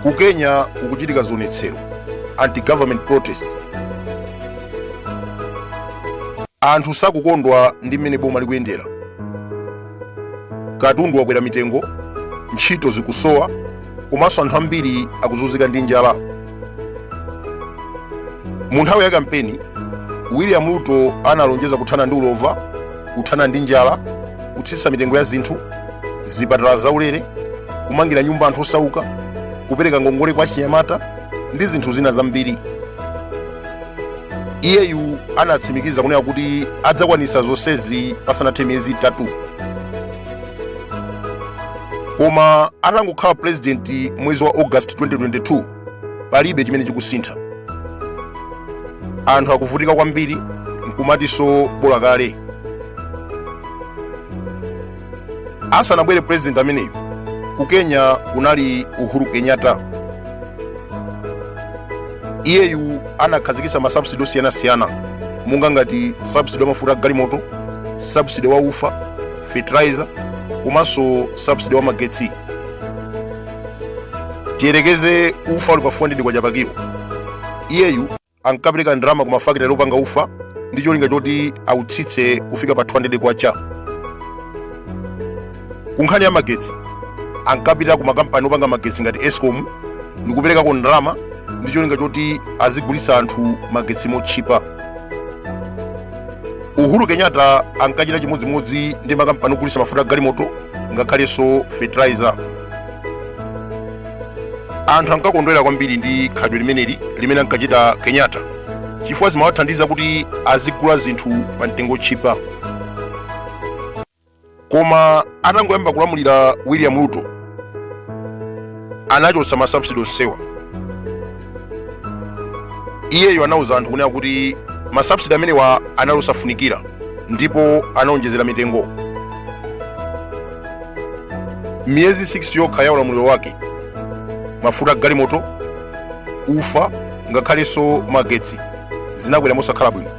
ku kenya kukuchitika zionetsero anti-government protest anthu sakukondwa ndi mmene boma likuyendera katundu wakwera mitengo ntchito zikusowa komanso anthu ambiri akuzunzika ndi njala mu nthawi ya kampeni william ruto analonjeza kuthana ndi ulova kuthana ndi njala kutsitsa mitengo ya zinthu zipatala zaulere kumangira nyumba anthu osauka kupereka ngongole kwa achinyamata ndi zinthu zina zambiri iyeyu anatsimikiza kunena kuti adzakwanitsa zonsezi pasanathe miyezi itatu koma atangokhala pulezidenti mwezi wa august 2022 palibe chimene chikusintha anthu akuvutika kwambiri nkumatinso bola kale asanabwere president ameneyu ku kenya kunali uhuru kenyatta iyeyu anakhazikitsa masubsidi osiyanasiyana monga ngati subsidi wa mafuta a galimoto subsidi wa ufa fertilizer komanso subsidi wa magetsi tiyerekeze ufa uli pa 400 kwacha pa kilo iyeyu ankapereka ndalama ku mafakitale opanga ufa ndi cholinga choti autsitse kufika pa 200 kwacha ku nkhani ya magetsi ankapita ku makampani opanga magetsi ngati escom ndi kuperekako ndalama ndi cholinga choti azigulitsa anthu magetsi motchipa uhuru kenyatta ankachita chimodzimodzi ndi makampani ogulitsa mafuta a galimoto ngakhalenso fertilizer anthu ankakondwera kwambiri ndi khalidwe limeneli limene ankachita kenyatta chifukwa zimawathandiza kuti azigula zinthu pa mtengo otchipa koma atangoyamba kulamulira william ruto anachotsa masubsidy onsewa iyeyo anauza anthu kunena kuti masubsidi amenewa anali osafunikira ndipo anaonjezera mitengo miyezi 6 yokha ya ulamuliro wake mafuta a galimoto ufa ngakhalenso magetsi zinakwera mosakhala bwino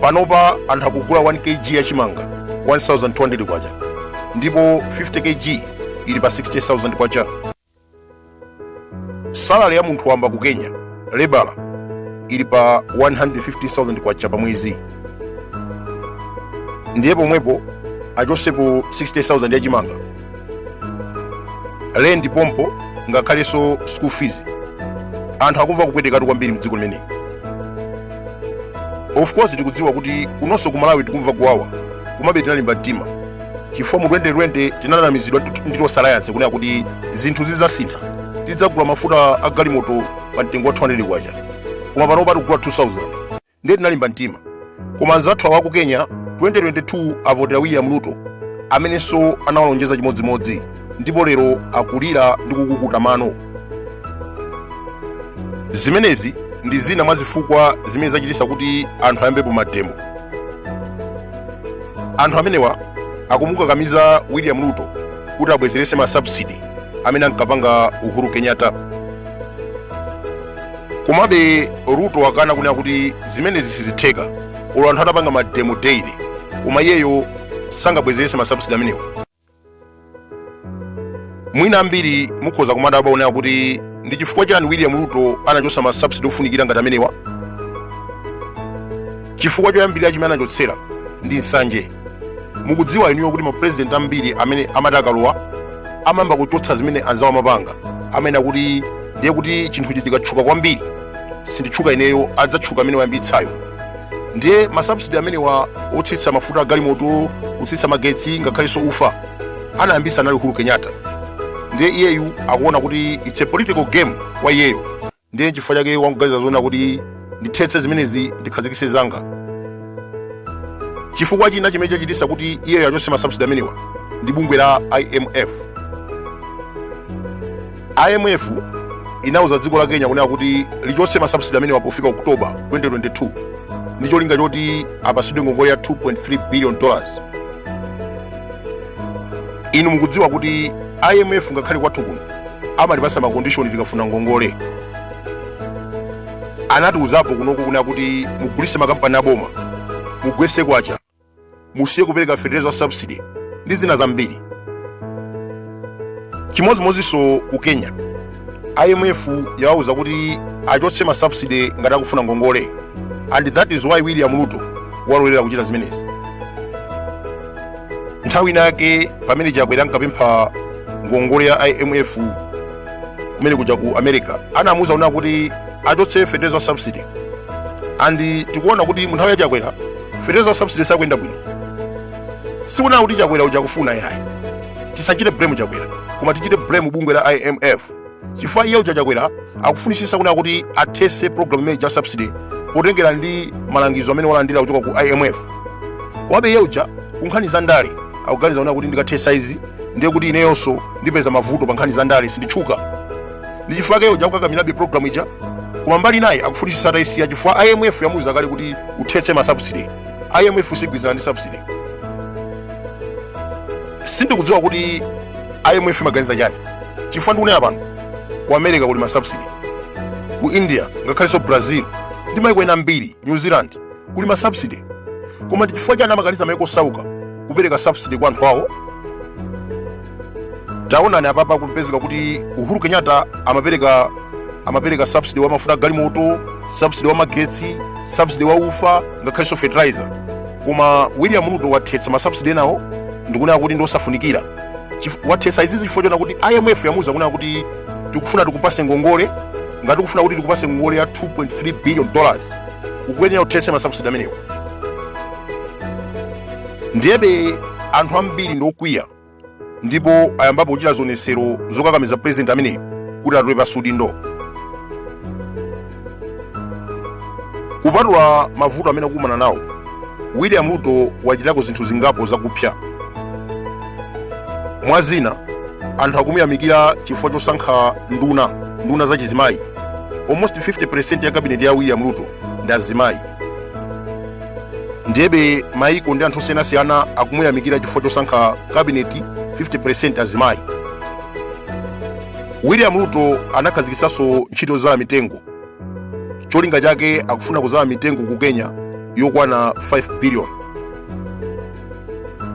panopa anthu akugula 1 kg ya chimanga 1200 kwacha ndipo 50 kg ili pa 60000 kwacha salary ya munthu wamba ku kenya lebala ili pa 150000 kwacha pa mwezi ndiye pomwepo achosepo 60000 ya chimanga rent pompo ngakhalenso school fees anthu akumva kupwetekatu kwambiri mdziko limeneli of course tikudziwa kuti kunonso ku malawi tikumva kuwawa komabe tinalimba mtima chifukwa mu 2020 tinanamizidwa ndi tonse alliance kunena kuti zinthu zidzasintha tidzagula mafuta a galimoto pa mtengo wa 200 kwacha koma panopa tikugula 2000 ndiye tinalimba mtima koma anzathu awa ku kenya 2022 avotera william ruto amenenso anawalonjeza chimodzimodzi ndipo lero akulira ndi kukukuta mano zimenezi ndi zina mwa zifukwa zimene zachititsa kuti anthu ayambepo mademo anthu amenewa akumukakamiza william ruto kuti abwezeretse masubsidi amene ankapanga uhuru kenyatta komabe ruto wakana kunena kuti zimenezi sizitheka olo anthu atapanga mademo daily koma iyeyo sangabwezeretse masubsidi amenewa mwina ambiri mukhoza kumadabwa kunena kuti ndi chifukwa chani william ruto anachotsa ma subsidy ofunikira ngati amenewa chifukwa choyambirira chimene anachotsera ndi nsanje mukudziwa inuyo kuti mapurezidenti ambiri amene amati akalowa amayamba kuchotsa zimene anzawo amapanga amene akuti ndiye kuti chinthucho chikatchuka kwambiri sinditchuka ineyo adzatchuka amene wayambitsayo ndiye masubsidi amenewa otsitsa mafuta agalimoto kutsitsa magetsi ngakhalenso ufa anayambisa anali uhuru kenyatta ndiye iyeyu akuona kuti its a political game kwa iyeyo ndiye chifukwa chake wangoganiza zonena kuti ndithetse zimenezi ndikhazikise zanga chifukwa china chimene chachitisa kuti iyeyo achose masubsidi amenewa ndi bungwe la imf IMF inauza dziko la Kenya kunena kuti lichotse masubsidi amenewa pofika Oktoba 2022 ndi cholinga choti apatsidwe ngongole ya 2.3 billion dollars. Inu mukudziwa kuti IMF ngakhale kwathu kuno amatipasa makondishoni tikafuna ngongole. Anatiuzapo kunoko kunena kuti mugulise makampani aboma mugwese kwacha musiye kupereka fetereza wa subsidy ndi zina zambiri chimodzimodzinso ku kenya imf yawauza kuti achotse ma subsidy ngati akufuna ngongole and that is why william ruto walolera kuchita zimenezi nthawi inayake pamene chakwera ankapempha ngongole ya imf kumene kuja ku america anamuuza kunena kuti achotse fetereza wa subsidy and tikuona kuti munthawi ya chakwera fertilizer subsidy siyikuyenda bwino sikunena kuti chakwera uja akufuna yayi tisachite blame chakwera koma tichite blame bungwe la imf chifukwa iye uja chakwera akufunisisa kunena kuti athese program imene ija ya subsidy potengera ndi malangizo amene walandira kuchoka ku imf komabe iye uja kunkhani za ndale akuganiza kunena kuti ndikathesa izi ndiye kuti ineyonso ndipeza mavuto pa nkhani za ndale sinditchuka ndi chifukwa chake uja akukakamirabe programu ija koma mbali inayi akufunitsitsa atayisiya chifukwa imf yamuuza kale kuti uthetse masubsidy imf sigwirizana ndi subsidy sindikudziwa kuti imf imaganiza chani chifukwa ndikunena pano ku america kuli masubsidy ku india ngakhalenso brazil ndi maiko ena ambiri new zealand kuli masubsidy koma ndi chifukwa chani amakaniza maiko osauka kupereka subsidy kwa anthu awo taonani apapa kupezeka kuti uhuru kenyatta amapereka subsidy wa mafuta a galimoto subsidy wa magetsi subsidy wa ufa ngakhalenso fertilizer koma william ruto wathetsa masubsidy enawo ndikunena kuti ndiosafunikira wathetsa izizi chifukwa chonena kuti imf yamuuza kunena kuti tikufuna tikupase ngongole ngati ukufuna kuti tikupase ngongole ya 2.3 billion dollars ukuyenera uthetse masubsidy amenewo ndiyebe anthu ambiri ndiokwiya ndipo ayambapo kuchita zionetsero zokakamiza pulezidenti ameneyo kuti atule pansi udindo kupatula mavuto amene akukumana nawo william ruto wachitako zinthu zingapo zakupsa mwa zina anthu akumuyamikira chifukwa chosankha nduna nduna za chizimayi almost 50% ya kabineti ya william ruto ndi azimayi ndiyebe maiko ndi anthu osiyanasiyana akumuyamikira chifukwa chosankha kabineti 50% azimayi william ruto anakhazikitsanso ntchito yozala mitengo cholinga chake akufuna kuzala mitengo ku kenya yokwana 5 billion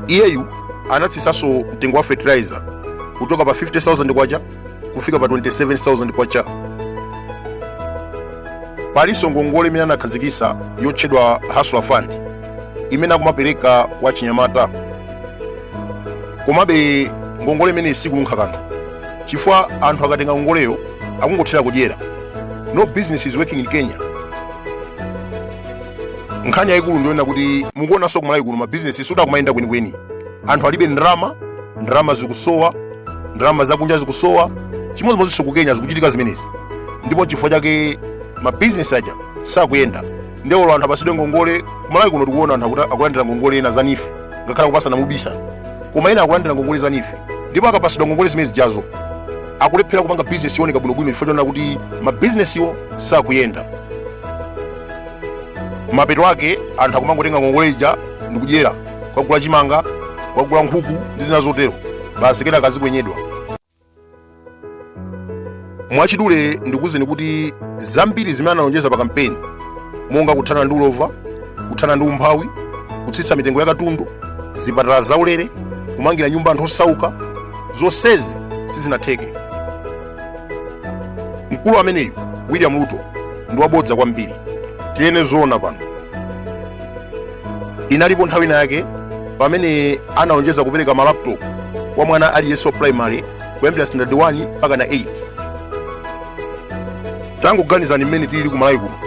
iyeyu anatsitsanso mtengo wa fertilizer kuchoka pa 50000 kwacha kufika pa 27,000 kwacha. Palinso ngongole imene anakhazikitsa yotchedwa Hustler Fund imene akumapereka kwa achinyamata. Komabe ngongole imeneyi sikununkha kanthu chifukwa anthu akatenga ngongoleyo akungothera kudyera. No business is working in Kenya. Nkhani yayikulu ndiyonena kuti mukuonanso ku Malawi kuno mabizinesi sikuti akumayenda kwenikweni. anthu alibe ndalama ndalama zikusowa ndalama zakunja zikusowa chimodzimodzinso ku kenya zikuchitika zimenezi ndipo chifukwa chake mabizinesi aja sakuyenda nde olo anthu apasidwe ngongole kumalawi kuno tikuona anthu akuta- akulandira ngongole ena za NEEF ngakhale akupasana mubisa koma ena akulandira ngongole za NEEF ndipo akapasidwa ngongole zimene zijazo akulephera kupanga bizinesi yoneka bwinobwino chifukwa chonena kuti mabizinesiwo sakuyenda mapeto ake anthu akumangotenga ngongole ija ndikudyera kukagula chimanga kukagula nkhuku ndi zina zotero basi kenaka azikwenyedwa mwachidule ndikuwuzeni kuti zambiri zimene analonjeza pa kampeni monga kuthana ndi ulova kuthana ndi umphawi kutsitsa mitengo ya katundu zipatala zaulere kumangira nyumba anthu osauka zonsezi sizinatheke mkulu ameneyu william ruto ndi wabodza kwambiri tinene zoona pano inalipo nthawi inayake pamene analonjeza kupereka malaptop kwa mwana aliyense wa primary kuyambira standard 1 mpakana 8 tangoganizani mmene tilili ku malawi kuno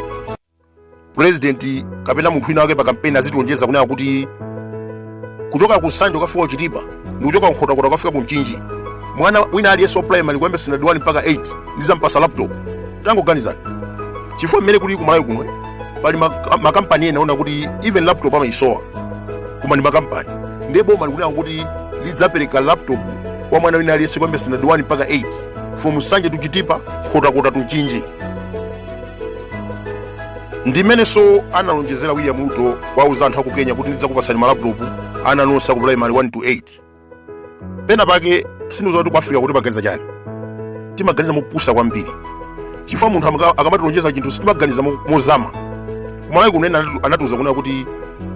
president kapena munthu wina wake pa kampeni azitilonjeza kunena kuti kuchoka ku nsanje kukafika kuchitipa ndikuchoka nkhotakota kukafika ku mchinji mwana wina aliyense wa primary kuyamba standard 1 mpaka 8 ndizampasa laptop tangoganizani chifukwa mmene kuli kumalawi kuno pali mak- makampani ena onena kuti even laptop amayisowa koma ndi makampani ndiye boma likunena kuti lidzapereka laptop kwa mwana wina aliyense kuyamba standard 1 mpaka 8 from nsanje to chitipa nkhotakota to mchinji ndi mmenenso analonjezera william ruto kuwauza anthu aku kenya kuti ndidzakupatsani malaputopu ana nonse aku primary 1 to 8 pena pake sindidziwa kuti ku africa kuno timaganiza chani timaganiza mopusa kwambiri chifukwa munthu amaka- akamatilonjeza chinthu sitimaganiza mo- mozama kumalawi kuno ena anatu- anatiuza kunena kuti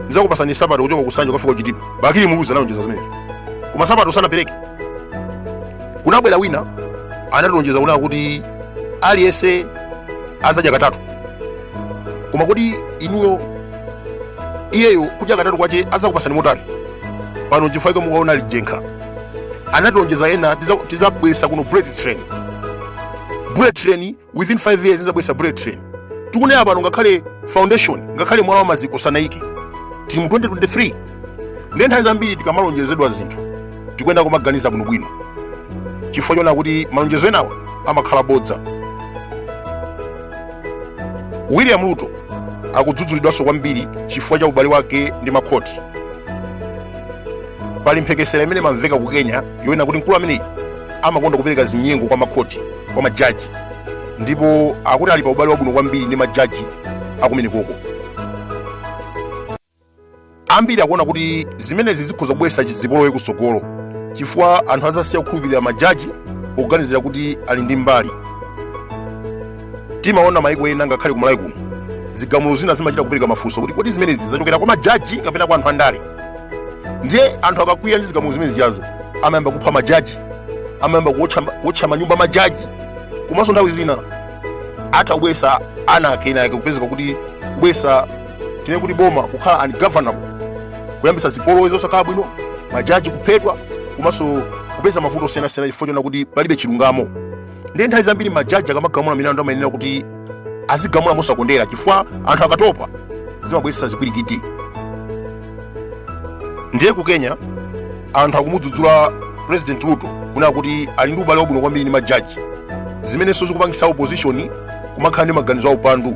ndidzakupatsani nsapato kuchoka ku nsanje kufika kuchitipa bakili muluzi analonjeza zimenezo koma nsapato sanapereke kunabwera wina anatilonjeza kunena kuti aliyense azadya katatu koma kodi inuyo iyeyo kudya katatu kwache azakupasani motani pano chifukwa chake mukuona lijenkha anatilonjeza ena tiza- tizabweresa kuno bullet train bullet train within 5 years tizabweresa bullet train tikunena pano ngakhale foundation ngakhale mwala wa maziko sanaike tili mu 2023 ndiye nthawi zambiri tikamalonjezedwa zinthu tikuyenera kumaganiza bwinobwino chifukwa chonena kuti malonjezo enawa amakhala bodza william ruto akudzudzulidwanso kwambiri chifukwa cha ubale wake ndi makhoti pali mphekesera imene imamveka ku kenya yonena kuti mkulu ameneyi amakonda kupereka zinyengo kwa makhoti kwa majaji ndipo akuti ali pa ubale wabwino kwambiri ndi majaji akumenekoko ambiri akuona kuti zimenezi zikhoza kubweretsa zipolowe kutsogolo chifukwa anthu azasiya kukhulupirira majaji poganizira kuti ali ndi mbali timaona maiko ena ngakhale ku Malawi kuno zigamulo zina zimachita kupereka mafunso kuti kodi zimenezi zachokera kwa majaji kapena kwa anthu andale ndiye anthu akakwiya ndi zigamulo zimene zijazo amayamba kupha majaji amayamba kuotcha manyumba a majaji komanso nthawi zina atha kubwesa ana akena yake kupezeka kuti kubwesa tinene kuti boma kukhala ungovernable kuyambisa zipolowe zosakhala bwino majaji kuphedwa komanso kupeza mavuto osiyanasiyana chifukwa choona kuti palibe chilungamo ndiye nthawi zambiri majaji akamagamula milandu amayenera kuti azigamula mosakondera chifukwa anthu akatopa zimabweretsa zipwirikiti ndiye ku kenya anthu akumudzudzula president ruto kunena kuti ali ndi ubale wabwino kwambiri ndi majaji zimenenso zikupangisa opposition kumakhala ndi maganizo a upandu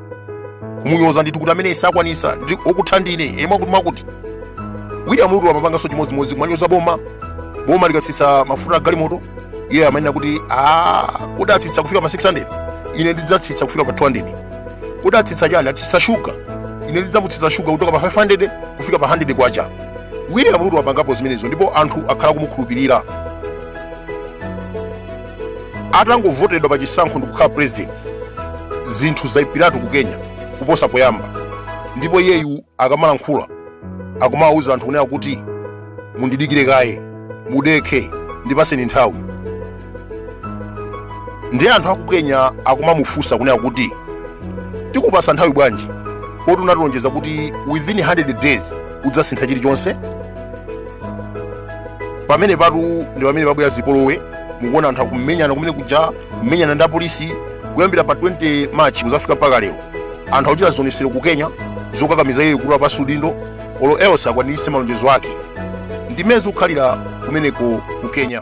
kumunyoza ndithu kuti amene sakwanisa okutha ndine mwakuti mwakuti william ruto amapanganso chimodzimodzi kumanyoza boma boma likatsitsa mafuta a galimoto iye amanena kuti "Ah, kuti atsitsa kufika pa 600 ine ndidzatsitsa kufika pa 200 kuti atsitsa chani atsitsa shuga ine ndidzamutsitsa shuga kutoka pa 500 kufika pa 100 kwacha william ruto wapangapo zimenezo ndipo anthu akhala kumukhulupirira atangovotedwa pa chisankho ndi kukhala president zinthu zaipiratu ku kenya kuposa poyamba ndipo iyeyu akamalankhula akumawawuza anthu kunena kuti mundidikire kaye mudekhe ndipaseni nthawi ndiye anthu aku kenya akumamufunsa kunena kuti tikupase nthawi bwanji poti unatilonjeza kuti within 100 days udzasintha chilichonse pamene patu ndi pamene pabwera zipolowe mukuona anthu akumenyana kumene kuja kumenyana ndi apolisi kuyambira pa 20 march kuzafika mpaka lero anthu akuchita zionesero ku kenya zokakamiza iye kutula pansi udindo olo else akwaniritse malonjezo ake ndimene zikukhalira kumeneko ku kenya